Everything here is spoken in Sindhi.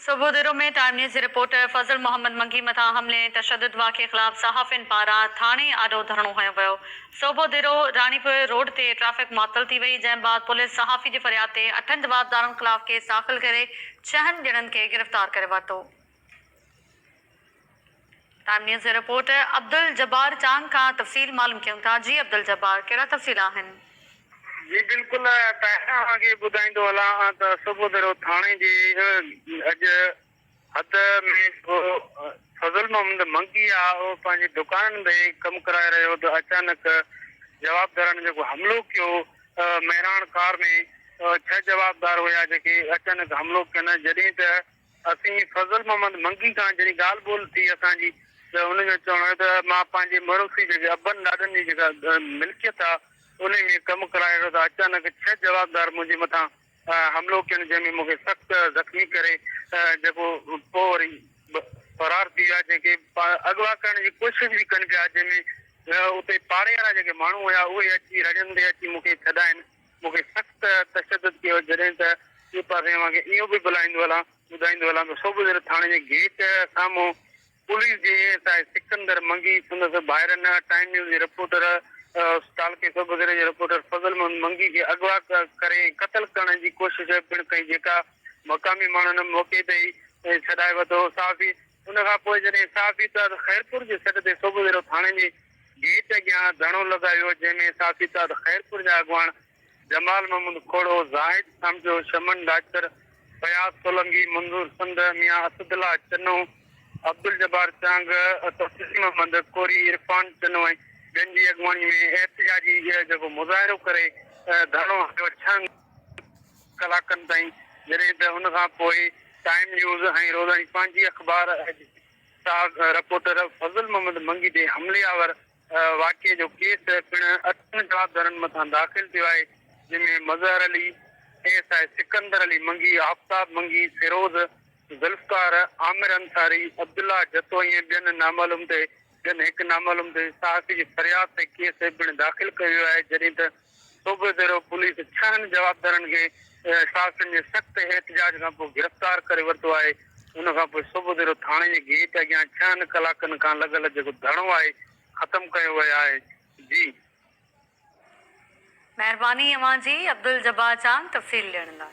صبح ديرو ۾ ٽائيم نيوز جي رپورٽر فضل محمد منگي مٿان حملي ۽ تشدد واقعي خلاف صحافين پاران ٿاڻي آڏو ڌرڻو هنيو ويو. صوبه ديرو راڻيپور روڊ تي ٽريفڪ معطل ٿي وئي جنهن بعد پوليس صحافي جي فرياد تي اٺن جوابدارن خلاف ڪيس داخل ڪري ڇهن ڄڻن کي گرفتار ڪري ورتو. ٽائيم نيوز جي رپورٽر عبدالجبار چانگ کان تفصيل معلوم ڪيون ٿا جي عبدالجبار ڪهڙا تفصيل آهن؟ جي بلڪل طاهره اوهان کي ٻڌائيندو هلان ته صبح سرو ٿاڻي جي اڄ حد ۾ جيڪو فضل محمد منگي آ اهو پنهنجي دڪانن ۾ ڪم ڪرائي رهيو هو ته اچانڪ جوابدارن جيڪو حملو ڪيو مهراڻ ڪار ۾ ڇهه جوابدار هيا جيڪي اچانڪ حملو ڪين جڏهن ته اسين فضل محمد منگي کان جڏهن ڳالهه ٻولهه ٿي اسان جي ته ان جو چوڻ هيو ته مان پنهنجي مروثي جيڪي ابن ڏاڏن جي جيڪا ملڪيت آ انهي ۾ ڪم ڪرائي رهيو ته اچانڪ ڇهه جوابدار منهنجي مٿان حملو ڪين جنهن ۾ مون کي سخت زخمي ڪري جيڪو پوء وري فرار ٿي ويا جنهن کي اغوا ڪرڻ جي ڪوشش به ڪن پيا جنهن ۾ اتي پاڙي وارا جيڪي ماڻهو هيا اهي اچي رڙين تي اچي مون کي ڇڏائين مون کي سخت تشدد ڪيو جڏهن ته ٻي پاسي اوهان کي اهو به ٻلائيندو هلان ٻڌائيندو هلان ته صوبدر ٿاڻي جي گيٽ سامهون پوليس جي ايس آء سڪندر منگي، سندس ڀائرن ٽائيم نيوز جي رپورٽر تعلقي صوبدر جي رپورٽر فضل محمد منگي کي اغوا ڪري ۽ قتل ڪرڻ جي ڪوشش پڻ ڪئي جيڪا مقامي ماڻهن موقعي تي ئي ڇڏائي ورتو صحافي ان کان پوء جڏهن ساهه پيتا ته خيرپور جي سڏ تي صوبه ويرو ٿاڻي جي گيٽ اڳيان ڌرڻو لڳايو ويو، جنهن ۾ ساهه پيتا ته خيرپور جا اڳواڻ جمال محمود کوڙو، زاهد سمجو، شمن ڊاچر، فياض سولنگي، منظور سنڌ، ميان اسد الله چنو، عبدالجبار چانگ، تسليم احمد ڪوري، عرفان چنو ۽ ٻين جي اڳواڻي ۾ احتجاجي جيڪو مظاهرو ڪري ڌرڻو هنيو، ڇهن. ڪلاڪن تائين جڏهن ته ان کان پوء ٽائيم نيوز ۽ روزاني پنهنجي اخبار جي ساک رپورٽر فضل محمد منگي تي حملي آور واقعي جو ڪيس پڻ اٺن جوابدارن مٿان داخل ٿيو آهي جنهن ۾ Mazhar Ali, A S I Sikandar Ali Mangi, Aftab Mangi, Feroz, Zulfiqar, Aamir Ansari, Abdullah Jatoi ۽ ٻين نامعلوم تي جن هڪ نامعلوم دل صحافي جي فرياد تي ڪيس پڻ داخل ڪيو ويو آهي جڏهن ته صوبه ديرو پوليس ڇهن جوابدارن کي صحافين جي سخت احتجاج کانپوء گرفتار ڪري ورتو آهي ان کانپوء صوبه ديرو ٿاڻي جي گيٽ اڳيان ڇهن ڪلاڪن کان لڳل جيڪو ڌرڻو آهي ختم ڪيو ويو آهي جي مهرباني اوهان جي عبدالجبار چانگ تفصيل ڏيڻ لاء.